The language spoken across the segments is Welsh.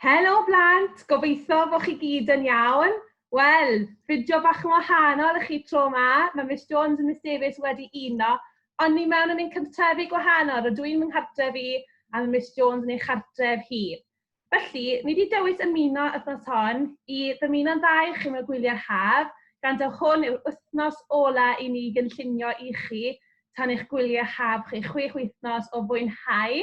Helo blant, gobeithio bod chi gyd yn iawn. Wel, fideo bach yn wahanol i chi tro yma, mae Miss Jones a Miss Davies wedi uno, ond ni mewn yn ein cartrefi gwahanol, rydw i'n fy nghartref i a mae Miss Jones yn ei chartref hi. Felly, ni wedi dewis ymuno wythnos hon i ddymuno'n dda i chi mewn gwyliau'r haf, gan taw hwn yw'r wythnos ola i ni gynllunio i chi tan eich gwyliau haf chi chwech wythnos o fwynhau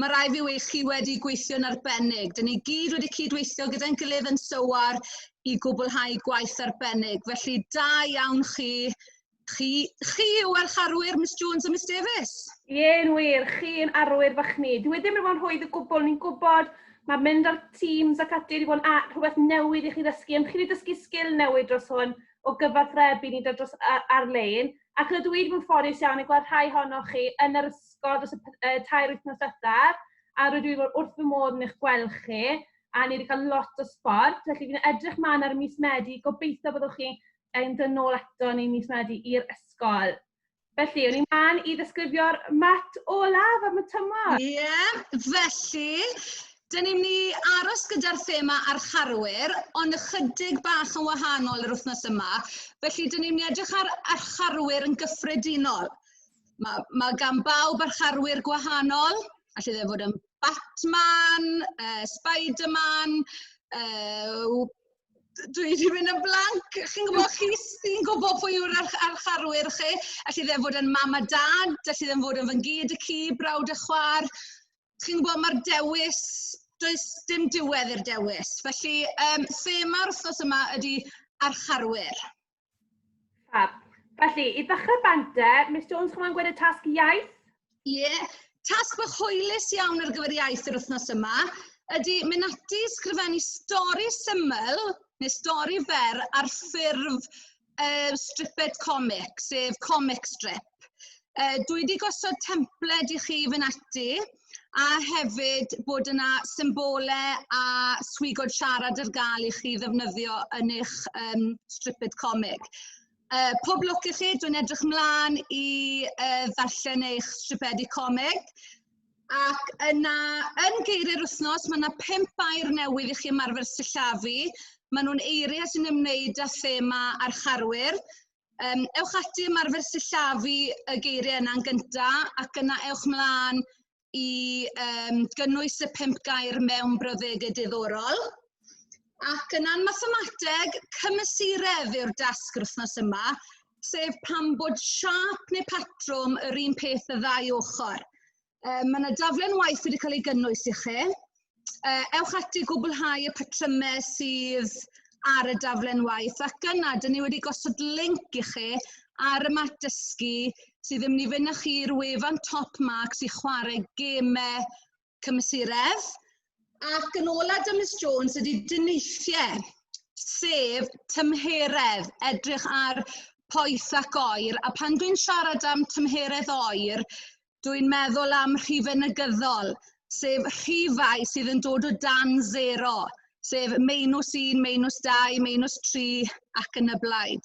Mae rhaid fi weud, chi wedi gweithio'n arbennig. Dyn ni gyd wedi cydweithio gyda'n gilydd yn sywar i gwblhau gwaith arbennig. Felly, da iawn chi. Chi, chi yw archarwyr Miss Jones a Miss Davies. Ie'n wir, chi'n arwyr fach ni. Dwi wedi mynd o'n rhwydd y gwbl, ni'n gwybod mae mynd ar Teams ac ati wedi bod yn rhywbeth newydd i chi ddysgu, ond chi wedi dysgu sgil newydd dros hwn o gyfathrebu ni dros ar-lein, ac rydw i wedi bod yn ffodus iawn i gweld rhai honnoch chi yn yr pysgod dros y p- yy tair wythnos ddiwethaf, a rydw i wrth fy modd yn eich gweld chi, a ni wedi cael lot o sbort, felly fi'n edrych mlaen ar mis Medi, gobeithio byddwch chi yn dod nôl ato ni mis Medi i'r ysgol. Felly, o'n i'n mlaen i ddisgrifio'r mat olaf am y tymor. Ie, yeah, felly, Dyn ni'n ni aros gyda'r thema archarwyr, ond ychydig bach yn wahanol yr wythnos yma. Felly, dyn ni'n ni edrych ar archarwyr yn gyffredinol. Ma' ma' gan bawb yr harwyr gwahanol, alle fe fod yn Batman, yy Spiderman, yy dwi 'di mynd yn blank, chi'n gwybod chi sy'n gwybod pwy yw'r arch- archarwyr chi, alle fe fod yn mam a dad, alle fe fod yn fy ngyd y ci, brawd a chwaer, chi'n gwybod mae'r dewis, does dim diwedd i'r dewis, felly yym thema'r wythnos yma ydy archarwyr. Fab. Felly, i ddechrau bante, Miss Jones, chwma'n gwneud y tasg iaith? Ie, yeah. tasg bach hwylus iawn ar gyfer iaith yr wythnos yma ydy mynd ati sgrifennu stori syml neu stori fer ar ffurf uh, stripped comic, sef comic strip. Yy dwi wedi gosod templed i chi fy ati a hefyd bod yna symbole a swigod siarad ar gael i chi ddefnyddio yn eich um, stripped comic. Uh, pob lwc i chi, dwi'n edrych mlaen i uh, ddarllen eich stripedi comic. Ac yna, yn geiriau'r wythnos, mae yna pimp air newydd i chi ymarfer sillafu. Maen nhw'n eiriau sy'n ymwneud â thema a'r charwyr. Um, ewch ati ymarfer sillafu y geiriau yna'n gyntaf ac yna ewch mlaen i um, gynnwys y pimp gair mewn brawddegau diddorol. Ac yna'n mathemateg, cymysuredd yw'r dasg yr wythnos yma, sef pan bod siap neu patrwm yr un peth y ddau ochr. Uh, mae yna daflen waith wedi cael ei gynnwys i chi. Uh, ewch ati gwblhau y patrymau sydd ar y daflen waith ac yna dyn ni wedi gosod link i chi ar y mat dysgu sydd yn mynd i fynd â chi'r wefan Top Marks i chwarae gemau cymysuredd. Ac yn ola da Miss Jones ydy dyneithiau, sef tymheredd, edrych ar poeth ac oer. A pan dwi'n siarad am tymheredd oer, dwi'n meddwl am rhifau negyddol, sef rhifau sydd yn dod o dan zero, sef meinws 1, meinws 2, meinws 3 ac yn y blaen.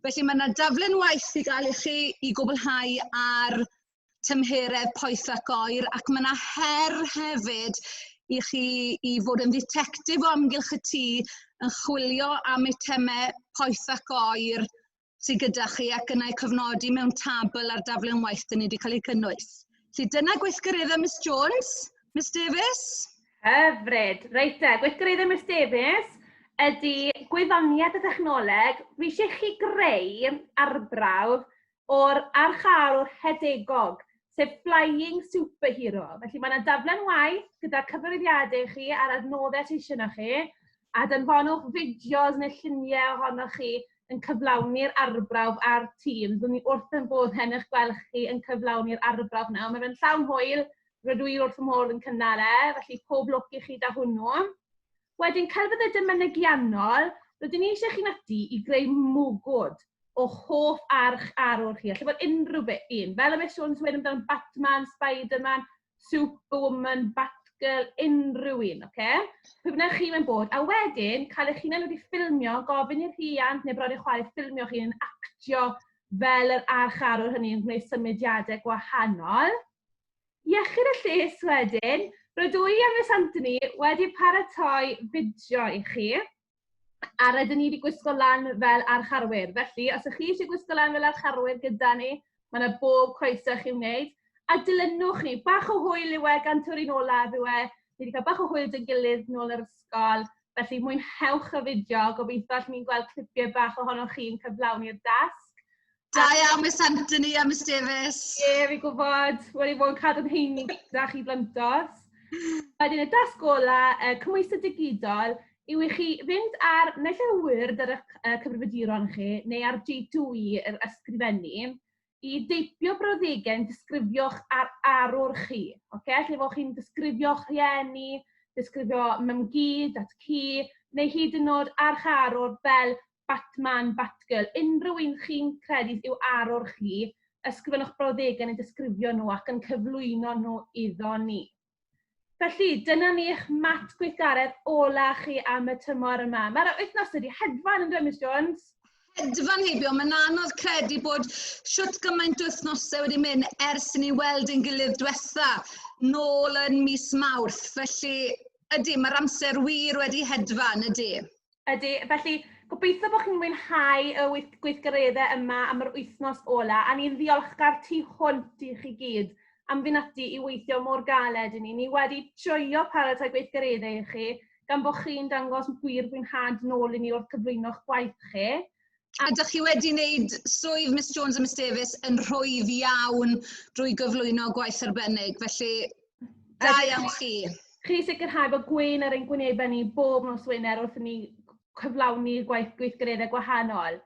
Felly mae yna daflen waith i gael i chi i gwblhau ar tymheredd poeth ac oer ac mae yna her hefyd i chi i fod yn dditectif o amgylch y tŷ yn chwilio am eitemau poeth ac oer sydd gyda chi ac yna'i cofnodi mewn tabl ar daflen waith dyn ni wedi cael ei cynnwys. Felly dyna gweithgareddau Miss Jones, Miss Davies. Hyfryd. Reit te, gweithgareddau Miss Davies ydy gwyddoniad y dechnoleg. Fi eisiau chi greu arbrawf o'r archaelwr hedegog, sef Flying Superhero. Felly mae yna daflen waith gyda cyfarwyddiadau chi a'r adnoddau sydd eisiau chi, a danfonwch fideos neu lluniau ohonoch chi yn cyflawni'r arbrawf a'r tîm. Dwi'n ni wrth yn bod hen eich gweld chi yn cyflawni'r arbrawf nawr. Mae fe'n llawn hwyl, rydw i wrth y môl yn cynnal e, felly pob lwc i chi da hwnnw. Wedyn, celfyddydau mynegiannol, rydyn ni eisiau chi'n ati i greu mwgwd o hoff arch arwr chi. Alla fod unrhyw beth un, fel y Miss Jones wedi amdano Batman, Spider-Man, superwoman, batgirl, unrhyw un, oce? Okay? Pwy bynnag chi mewn bod, a wedyn cael eich hunain wedi ffilmio, gofyn i'r rhiant neu bron eich chwaer ffilmio chi yn actio fel yr archarwr hynny yn gwneud symudiadau gwahanol. Iechyd y lles wedyn, rydw i a Miss Anthony wedi paratoi fideo i chi. a rydyn ni wedi gwisgo lan fel archarwyr. Felly, os ych chi eisiau gwisgo lan fel archarwyr gyda ni, mae yna bob croeso i chi wneud. A dilynwch ni, bach o hwyl yw e, gan tyw'r olaf yw e. Ni wedi cael bach o hwyl dyn gilydd nôl yr ysgol. Felly, mwynhewch y fideo. Gobeithio allwn ni'n gweld clipiau bach ohonoch chi'n cyflawni'r dasg. Da iawn, Miss Anthony a Miss Davies. Ie, yeah, fi gwybod. Wel, i fod yn cadw'n heini gyda chi blantos. Wedyn y dasg gola, uh, cymwyso digidol, yw i chi fynd ar naill ai wyrd ar eich uh, cyfrifiaduron chi neu ar G2E yr ysgrifennu i deipio brawddegau yn disgrifio'ch ar arwr chi. Okay? Lle fod chi'n disgrifio'ch rhieni, disgrifio mymgu, dat cu, neu hyd yn oed arch arwr fel Batman, Batgirl, unrhyw un chi'n credu sydd i'w arwr chi, ysgrifennwch brawddegau neu disgrifio nhw ac yn cyflwyno nhw iddo ni. Felly, dyna ni eich mat gweithgaredd ola chi am y tymor yma. Mae'r wythnos wedi hedfan yn dweud, Jones? Hedfan heibio, mae'n anodd credu bod siwt gymaint wythnosau wedi mynd ers i ni weld yn gilydd diwetha nôl yn mis Mawrth. Felly, ydy, mae'r amser wir wedi hedfan, ydy. Ydy, felly gobeithio bod chi'n mwynhau y wyth- gweithgareddau yma am yr wythnos ola, a ni'n ddiolchgar tu hwnt i chi gyd am fynd ati i weithio mor galed i ni. Ni wedi joio paratoi gweithgareddau i chi, gan bod chi'n dangos gwir fwynhad nôl i ni wrth gyflwyno'ch gwaith chi. A ydych chi wedi wneud swydd Miss Jones a Miss Davies yn rhwydd iawn drwy gyflwyno gwaith arbennig, felly da iawn chi. Chi sicrhau bod gwyn ar ein gwynebau ni bob nos Wener wrth i ni cyflawni gwaith gweithgareddau gwahanol.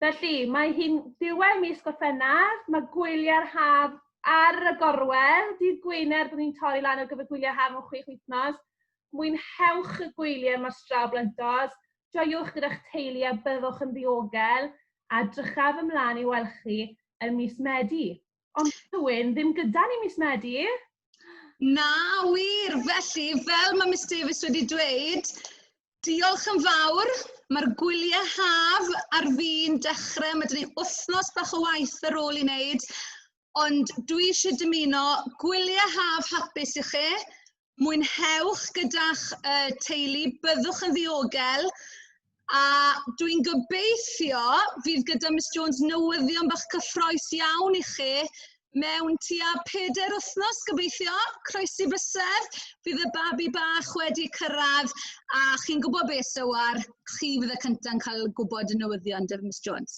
Felly, mae hi'n diwedd mis Gorffennaf, mae gwyliau'r haf ar y gorwel, dydd Gwener, byddwn ni'n torri lan ar gyfer gwyliau haf mewn chwech wythnos. Mwynhewch y gwyliau mae'r straw blentos, Joiwch gyda'ch teulu a byddwch yn ddiogel a drychaf ymlaen i weld chi yn mis Medi. Ond Tywyn, ddim gyda ni mis Medi. Na, wir! Felly, fel mae Miss Davies wedi dweud, diolch yn fawr. Mae'r gwyliau haf ar fi'n dechrau, mae dyn ni wythnos bach o waith ar ôl i wneud, Ond dwi eisiau dymuno gwyliau haf hapus i chi. Mwynhewch gyda'ch uh, teulu, byddwch yn ddiogel. A dwi'n gobeithio fydd gyda Miss Jones newyddion bach cyffroes iawn i chi mewn tua peder wythnos gobeithio, croesi bysedd, bydd y babi bach wedi cyrraedd a chi'n gwybod beth sywar, chi fydd y cyntaf yn cael gwybod y newyddion, Dyf Miss Jones.